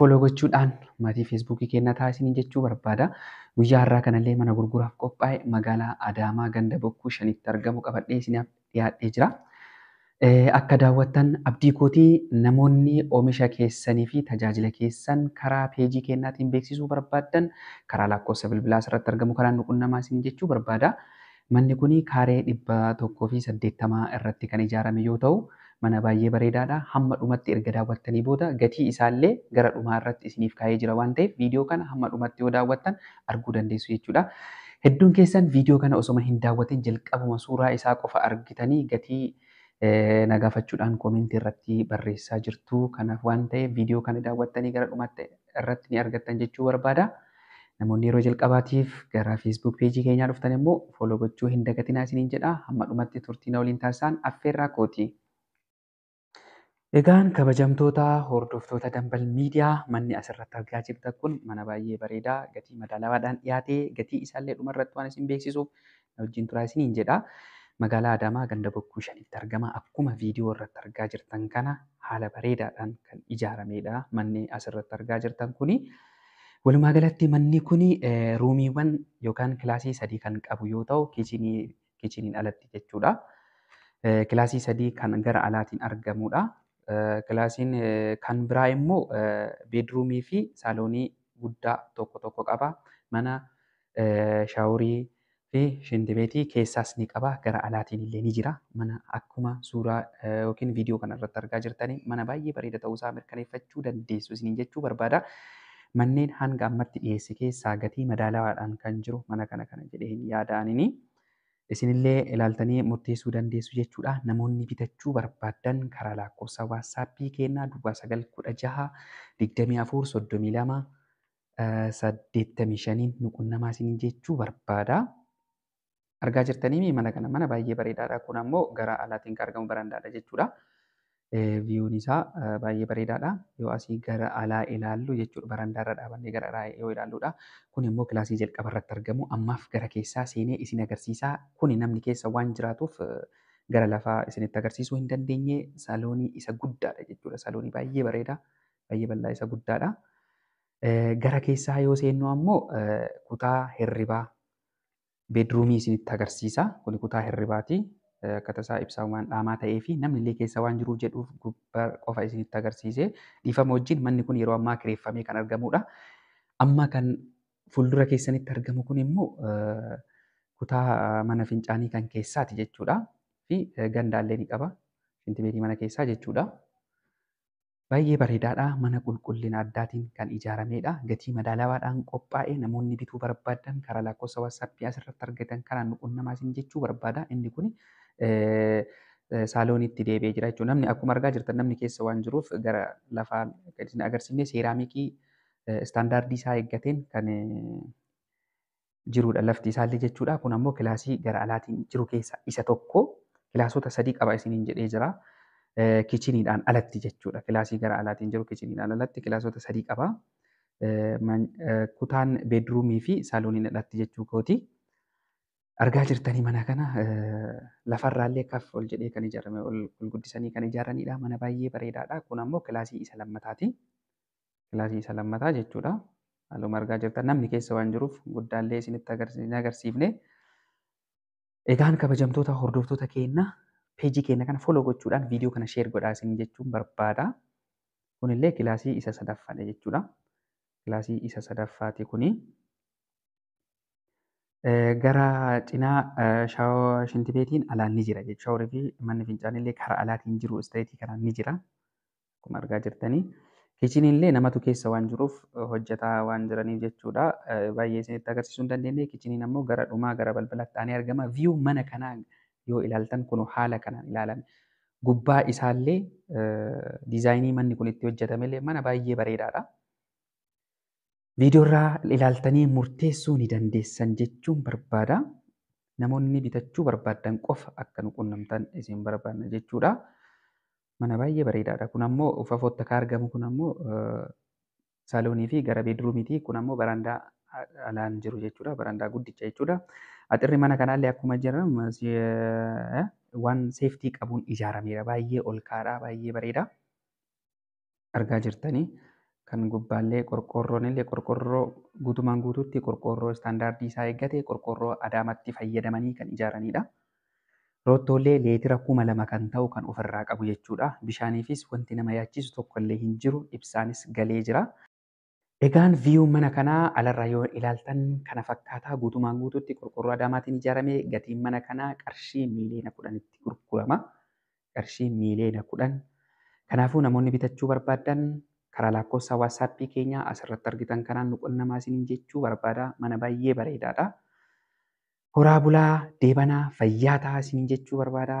Foloo gochuudhaan maatii feesbuukii keenna ta'a isiniin jechuu barbaada. Guyyaa har'aa kanallee mana gurguraaf qophaa'e magaalaa Adaamaa ganda Bokkuu shanitti argamu qabadhee isiniif dhiyaadhee jira. Akka daawwattan abdii kootii namoonni oomisha keessanii fi tajaajila keessan karaa peejii keennaatiin beeksisuu barbaaddan karaa lakkoofsa bilbilaa asirratti argamu kanaan nu qunnamaa isiniin jechuu barbaada. Manni kun kaaree 180 irratti kan ijaarame yoo ta'u, mana baay'ee bareedaadha. Hamma dhumatti erga daawwattanii booda gatii isaallee gara dhumaa irratti isiniif kaa'ee jira waan ta'eef viidiyoo kana hamma dhumatti yoo daawwattan arguu dandeessu jechuudha. Hedduun keessan viidiyoo kana osoma hin daawwatin jalqabuma suuraa isaa qofa argitanii gatii na gaafachuudhaan koomentii irratti barreessaa jirtu. Kanaaf waan ta'eef viidiyoo kana daawwattanii gara dhumaatti irratti ni argattan jechuu barbaada. Namoonni yeroo jalqabaatiif gara Facebook peejii keenyaa dhuftan immoo follow gochuu hin dagatinaa isiniin jedha. Hamma dhumatti turtii na waliin taasisaan affeerraa kooti. Egaan kabajamtoota hordoftoota Dambal Miidiyaa manni asirratti argaa jirtan kun mana baay'ee bareedaa gatii madaalawaadhaan dhiyaatee gatii isaallee dhumarratti waan isin beeksisuuf na wajjin turaa isiniin jedha. Magaalaa Adaamaa ganda Bokkuu Shanitti argama. Akkuma viidiyoo irratti argaa jirtan kana haala bareedaadhaan kan ijaarameedha. Manni asirratti argaa jirtan kuni. Walumaa galatti manni kuni ruumiiwwan yookaan kilaasii sadii kan qabu yoo ta'u kiichinii kiichiniin alatti jechuudha. Kilaasii sadii kan gara alaatiin argamudha. Kilaasiin kan biraa immoo beedruumii fi saaloonii guddaa tokko tokko qaba. Mana shaaworii fi shintibeetii keessaas ni qaba gara alaatiin illee ni jira mana akkuma suuraa yookiin viidiyoo kana irratti argaa jirtanii mana baay'ee bareeda ta'uu isaa mirkaneeffachuu dandeessu isiniin jechuu barbaada manneen hanga ammatti dhiyeesse keessaa gatii madaalawaadhaan kan jiru mana kana kana jedheen yaada'anini isinillee ilaaltanii murteessuu dandeessu jechuudha namoonni bitachuu barbaadan karaa lakkoofsa waatsaappii keenyaa duwwaa sagal kudha jaha digdamii afur soddomii lama saddeettamii shaniin nu qunnamaa isiniin jechuu barbaada. Argaa jirtanii mana kana mana baay'ee bareedaadha. Kun ammoo gara alaatiin kan argamu barandaadha jechuudha. Viyuun isaa baay'ee bareedaadha. Yoo asii gara alaa ilaallu jechuudha barandaarra dhaabannee gara alaa yoo ilaalludha. Kun immoo kilaasii jalqaba irratti argamu. Ammaaf gara keessaa seenee isin agarsiisa. Kuni namni keessa waan jiraatuuf gara lafaa isinitti agarsiisuu hin dandeenye. Saloonii isa guddaadha jechuudha. Saloonii baay'ee bareeda. baay'ee bal'aa isa guddaadha. Gara keessaa yoo seennu ammoo kutaa hirribaa beedruumii isinitti agarsiisa. Kuni kutaa hirribaati. Akkata isaa ibsaa waan dhaamaa ta'ee fi namni illee keessa waan jiruuf jedhuuf gubbaa qofa isinitti agarsiise. Dhiifama wajjin manni kun yeroo ammaa kireeffamee kan argamudha. Amma kan fuuldura keessanitti argamu kun immoo kutaa mana fincaanii kan keessaati jechuudha. Fi gandaallee ni qaba. Shintibeetii mana keessaa jechuudha. Baay'ee bareedaadha. Mana qulqullina addaatiin kan ijaarameedha. Gatii madaalawaadhaan qophaa'e. Namoonni bituu barbaadan karaa lakkoofsa WhatsApp asirratti argitan kanaan nu qunnamaa isin jechuu barbaada. Inni kun saalooniitti deebi'ee jira jechuudha. Namni akkuma argaa jirtan namni keessa waan jiruuf gara lafaa kan isin agarsiifne seeraamikii istaandaardii isaa eeggateen kan jiruudha lafti isaallee jechuudha. Kun ammoo kilaasii gara alaatiin jiru keessaa isa tokko. Kilaasota sadii qaba isiniin jedhee jira. Kichiniidhaan alatti jechuudha. Kilaasii gara alaatiin jiru kichiniidhaan alatti kilaasota sadii qaba. Kutaan beedruumii fi saalooniin alatti jechuu kooti. Argaa jirtanii mana kana lafarraallee kaf ol jedhee kan ijaarame ol guddisanii kan ijaaranidha. Mana baay'ee bareedaadha. Kun ammoo kilaasii isa lammataati. kilaasii isa lammataa jechuudha. Haaluma argaa jirtan namni keessa waan jiruuf guddaallee isinitti hin agarsiifne. Egaan kabajamtoota hordoftoota keenya peejii keenya kana foloo gochuudhaan viidiyoo kana sheer godhaa isin jechuun barbaada. Kunillee kilaasii isa sadaffaadha jechuudha. Kilaasii isa sadaffaati kuni. Gara cinaa shaawaa shintibeetiin alaan ni jira jechuudha. Shaaworii fi manni fincaanillee karaa alaatiin jiru isteetii kanaan ni jira. Akkuma argaa jirtanii kichiniin illee namatu keessa waan jiruuf hojjetaa waan jiraniif jechuudha. Baay'ee isinitti agarsiisuu hin dandeenye. Kichiniin ammoo gara dhumaa gara balbalaatti aanee argama. Viyuu mana kanaa yoo ilaaltan kun haala kanaan ilaalame. Gubbaa isaallee diizaayinii manni kun itti hojjetame illee mana baay'ee bareedaadha. Viidiyoorraa ilaaltanii murteessuu ni dandeessan jechuun barbaada. Namoonni bitachuu barbaaddan qofa akka nu qunnamtan isin barbaadna jechuudha. Mana baay'ee bareedaadha. Kun ammoo fafootti akka argamu kun ammoo saaloonii fi gara beedruumiiti. Kun ammoo barandaa alaan jiru jechuudha. Barandaa guddicha jechuudha. Axirri mana kanaallee akkuma jira waan seeftii qabuun ijaarameera. Baay'ee ol ka'aadha. Baay'ee bareeda. argaa jirtanii kan gubbaallee qorqoorroonillee qorqoorroo guutumaan guutuutti qorqoorroo istaandaardii isaa eeggate qorqoorroo adaamatti fayyadamanii kan ijaaranidha. Roottoollee leetira kuma lama kan ta'u kan ofirraa qabu jechuudha. Bishaaniifis wanti nama yaachisu tokkollee hin jiru ibsaanis galee jira. Egaan view mana kanaa alarraa yoo ilaaltan kana fakkaata guutumaan guutuutti qorqorroo adaamaatiin ijaarame gatiin mana kanaa qarshii miiliyoona kudhanitti gurgurama qarshii miiliyoona kudhan kanaafuu namoonni bitachuu barbaaddan karaa laakkoofsa waatsaappii keenyaa asirratti argitan kanaan nu qunnamaa isiniin jechuu barbaada mana baay'ee bareedaadha horaa bulaa deebanaa fayyaa tahaa isiniin jechuu barbaada